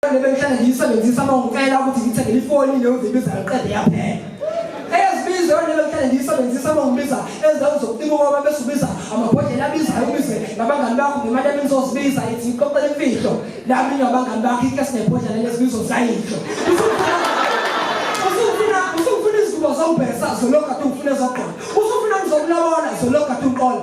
Abantu bengihlale ngiyisebenzisa uma ngicela ukuthi ngithengele ifoni leyo ngibiza ngiqede yaphela. Eyezibizo yona bengihlale ngiyisebenzisa uma ngibiza ezindawo zokutima ngoba bese ubiza amabhodlela abizayo ubize nabangani bakho ngemali ebenizozibiza ithi ngixoxele imfihlo nami ngabangani bakho iklasi nebhodlela lezibizo zayidlo. Usufuna usufuna izinto zobhesa zolokhu athi ufuna ezogqoka. Usufuna ngizokulabola zolokhu athi uqola.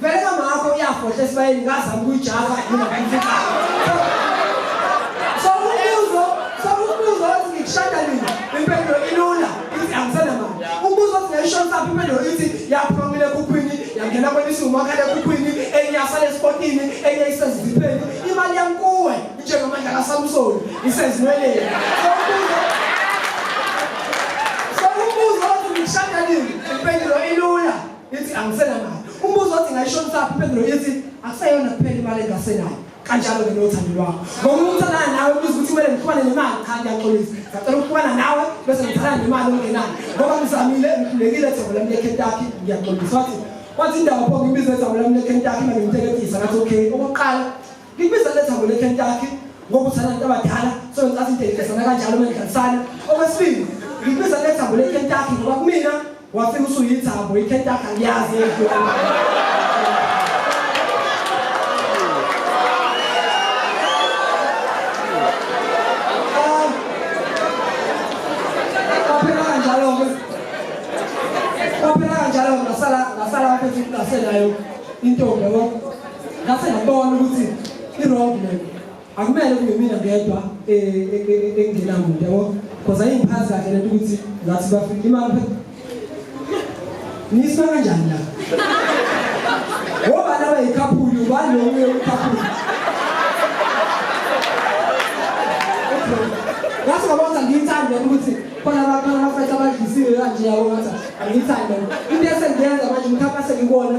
Vele mama wakho uyafohla esibayeni ngazama ukuyijava yini abayifika. So ubuzo, so ubuzo othi ngikushada nini? Impendulo ilula, ithi angisena mama. Ubuzo othi ngayishona saphi impendulo ithi yaphumile kukhwini, yangena kwenisi umakhala kukhwini, enye yasale esportini, enye isezipheni. Imali yankuwe njengamandla kaSamsoni isezinweleni. So ubuzo So ubuzo othi ngikushada nini? Impendulo ilula. ithi angisenayo umbuzo othi ngayishonisaphi impendulo ithi akuseyona kuphela imali engasenayo kanjalo ke nothando lwakho ngoba umuntu alala nawe ubuza ukuthi kumele ngixhumane nemali cha ngiyaxolisa ngicela ukuxhumana nawe bese ngithatha nemali ongenayo ngoba ngizamile ngikhulekile thembela mina eKentucky ngiyaxolisa wathi wathi indawo pho ngibize thembela mina eKentucky manje ngimteketisa ngathi okay okokuqala Ngibiza le thango leKentucky ngokuthi abantu abadala sokwenkathi into engidesana kanjalo uma ngidlalisana. Okwesibili, ngibiza le thango leKentucky ngoba kumina wafika usuyithambo iKentucky angiyazi yedwa. Ngaphela kanjalo ngasala ngasala apho ngisenayo intombi yabo ngase ngabona ukuthi i-wrong man akumele kube mina ngedwa engenamuntu yabo because ayingiphathi kahle lento ukuthi ngathi bafika imali niswa kanjani la ngoba laba yikhaphuli ubani lo uye ukhaphuli ngase ngabona ngiyithanda ukuthi khona abantu abafethu abadlisiwe kanje yabo ngathi angiyithanda into esengiyenza manje mkhapha sengikona